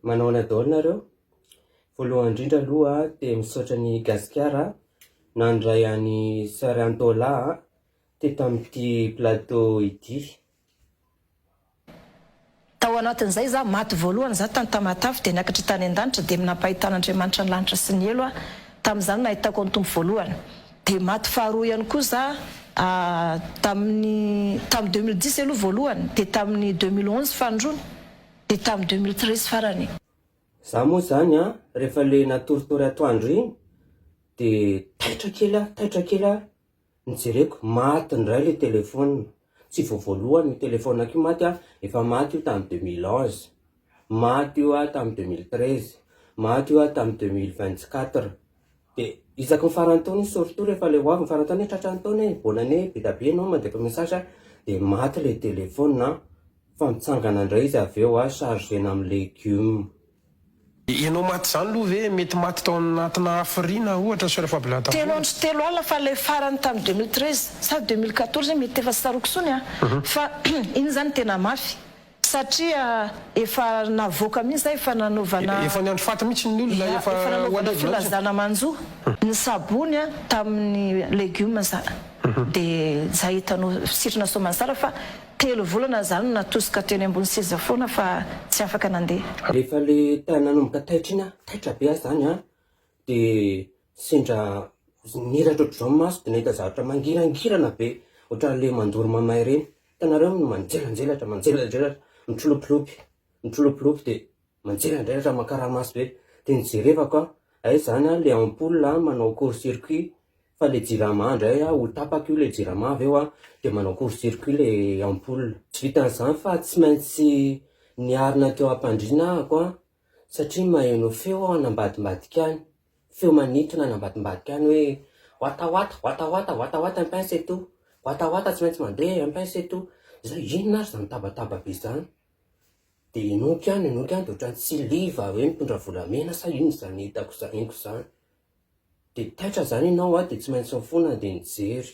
Manahoana daholo nareo? Voalohany indrindra aloha dia misaotra an'i Gasikara nandray an'i Soeur Antola teto amin'ity plateau ity. Tao anatin'izay za maty voalohany za tany Tamatave dia niakatra tany an-danitra dia nampahitan'Andriamanitra ny lanitra sy ny helo aho tamin'izany nahitako an'i Tompo voalohany dia maty faharoa ihany koa za tamin'ny tamin'ny deux mille dix aloha voalohany dia tamin'ny deux mille onze fahandroany dia tamin'ny deux mille treize farany. Za moa zany an, rehefa le natoritory atoandro iny de taitra kely aho, taitra kely aho, ny jereko maty ndray le telephone, tsy vao voalohany io telephone-ko io maty an, efa maty io tamin'ny deux mille onze, maty io aho tamin'ny deux mille treize, maty io aho tamin'ny deux mille vingt quatre. Dia isaky ny faran'ny taona iny surtout rehefa ilay ho avy ny faran'ny taona hoe tratran'ny taona e, bonne année be dia be ianao mandeko message dia maty ilay téléphone an, fa mitsangana indray izy avy eo an, chargena amin'ny légumes. Dia ianao maty izany aloha ve mety maty tao anatina hafiriana ohatra soeur Fabiola Telo Tavola? andro sy telo alina fa ilay farany tamin'ny deux mille treize sa deux mille quatorze mety efa tsy tsaroako intsony an, fa iny izany tena mafy. Satria efa navoaka mihitsy zay efa nanaovana. Efa ny andro faty mihitsy ny olona efa ho alevina mihitsy. Efa nanaovana filazana manjo ny sabony a tamin'ny legume za de za hitanao sitrana soamantsara fa telo volana za no natosika teny ambony seza foana fa tsy afaka nandeha. Rehefa le nanomboka taitra iny a, taitra be aho zany a de. Sendra niratra ohatr'izao ny maso dia nahita zavatra mangirangirana be ohatran'ilay mandoro mamay ireny. Hitanareo ny manjelanjelatra, manjelanjelatra, mitrilopilopy, mitrilopilopy dia manjelanjelatra makaramaso be. Dia nijerevako aho, hay izany an, ilay ampoule manao court circuit, fa ilay jirama indray an, ho tapaka io ilay jirama avy eo an, dia manao court circuit ilay ampoule. Tsy vitan'izany fa tsy maintsy niarina teo am-pandriana ahako an, satria maheno feo aho any ambadimbadika any, feo manintona any ambadimbadika any hoe, wata wata, wata wata, wata wata un pain c'est tout, wata wata tsy maintsy mandeha un pain c'est tout, izay inona ary izany tabataba be izany? dia inoako ihany, inoako ihany dia ohatran'ny tsy liva hoe mitondra volamena sa inona izany hitako izany, henoko izany, dia taitra izany ianao dia tsy maintsy mifona dia nijery.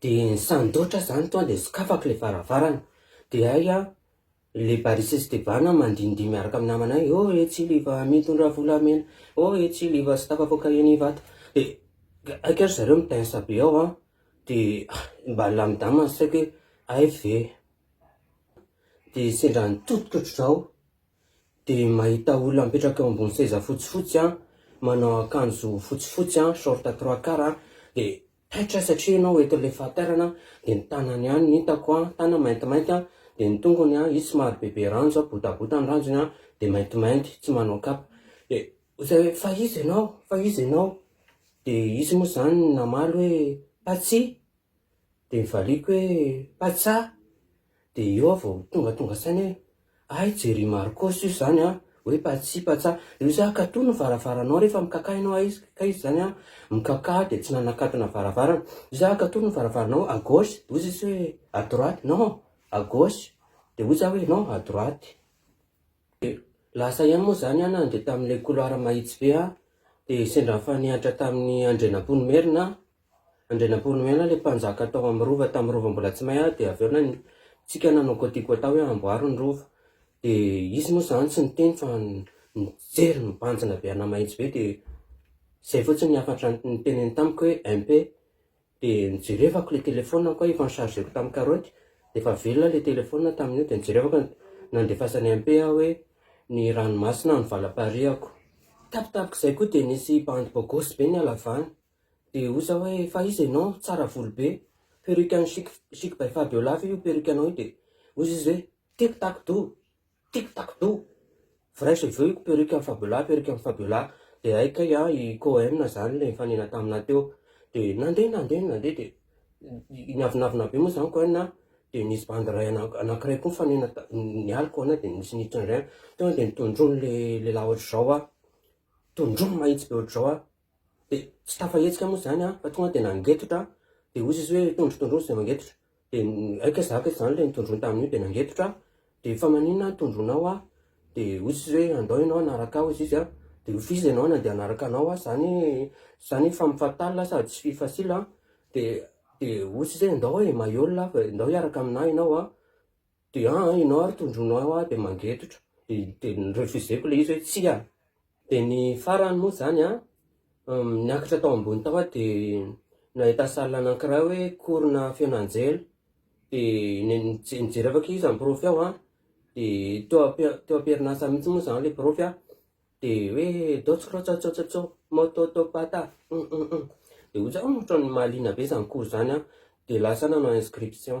Dia ny sandotra izany tonga dia sokafako ilay varavarana, dia hay aho, ilay Barry sy Esteban mandindihy miaraka amin'ny namanay, ô ê tsiliva mitondra volamena, ô ê tsiliva tsy tafavoaka eny Ivato, dia hay kay ry zareo mi-tense be ao an, dia mba nilamindamina ny saiko hoe hay ve, dia sendra nitotototro izao. dia mahita olona mipetraka eo ambony seza fotsifotsy an, manao akanjo fotsifotsy an, short trois quarts an, dia taitra satria ianao eto ilay fahaterana an, dia ny tanany ihany no hitako an, tanany maintimainty an, dia ny tongony an, izy somary bebe ranjo an, botabota ny ranjony an, dia maintimainty, tsy manao kapa, dia hoy zay hoe fa iza ianao? fa iza ianao? dia izy moa izany namaly hoe Patsia, dia nivaliako hoe, Paitsa! Dia eo aho vao tonga tonga saina hoe, hay Jerry Marcos io izany an! hoe Patsy, Paitsa! Dia hoy izy hoe, katoa ny varavaranao rehefa mikakà ianao, hay izy kay izany an! mikakà dia tsy nanakatona varavarana, dia hoy izy hoe, katoa ny varavaranao, à gauche! dia hoy izy hoe, à droite! non! à gauche! dia hoy izy hoe, non! à droite! dia lasa ihany moa izany aho nandeha tamin'ilay couloir mahitsy be an! dia sendra nifanehatra tamin'i Andrianampoinimerina aho, Andrianampoinimerina ilay mpanjaka tao amin'ny rova tamin'ny rova mbola tsy may ahy dia avy eo na ny tsika nanao côte côte hoe hamboary ny rova dia izy moa izany tsy niteny fa nijery nibanjina be ana mahitsy be dia izay fotsiny ny hafatra niteneniny tamiko hoe MP dia nijerevako ilay téléphone ko aho efa ni-chargeko tamin'ny karaoty dia efa velona ilay téléphone tamin'io dia nijerevako ny nandefasan'i MP aho hoe ny ranomasina no valam-pariako, tapitapika izay koa dia nisy bandy bôgôsy be nihalavaha. Dia hoy za hoe fa iza ianao? Tsara volo be, perruque an'i chic chic by fabiola ve io perruque anao io? Dia hoy izy hoe tic tac dou, tic tac dou, vrai cheveux io perruque an'i fabiola, perruque an'i fabiola, dia hay kay an i Cohen zany ilay nifanena taminah teo, dia nandeha nandeha nandeha dia niavonavona be moa zany Cohen an, dia nisy bandy iray anankiray koa nifanena nialy Cohen dia nisy niditra indray an, teo an dia nitondroin'ilay lehilahy ohatr'izao an, tondroiny mahitsy be ohatr'izao an. Dia tsy tafahetsika moa izany aho fa tonga dia nangetotra aho. Dia hoy Jesosy hoe, Tondro, tondro hozy izay mangetotra. Dia aika izaho aky izany ilay nitondroiny tamin'io, dia nangetotra aho. Dia fa maninona no tondronao aho? Dia hoy Jesosy hoe, Andao ianao hanaraka ahy, hoy izy. Dia hoy Fils ianao nandeha hanaraka anao aho, izany izany femme fatale sady tsy fille facile. Dia dia hoy Jesosy hoe, Andao e, maillot lahy, andao hiaraka amin'ahy ianao. de an an enao ary tondroinao eo aho de mangetotra de ny refuseko le izy hoe tsia de ny farany moa zany an niakatra tao ambony tao aho de nahita salle anankiray hoe cours na feon'anjely de nijery avy akaiza ny profy ao an de teo am- teo am-perinasa mihintsy moa zany le profy an de hoe dots krotsatsotsotso mototopata hum hum hum de hoy za ohatran'ny mahaliana be zany cours zany an de lasa aho nanao inscription.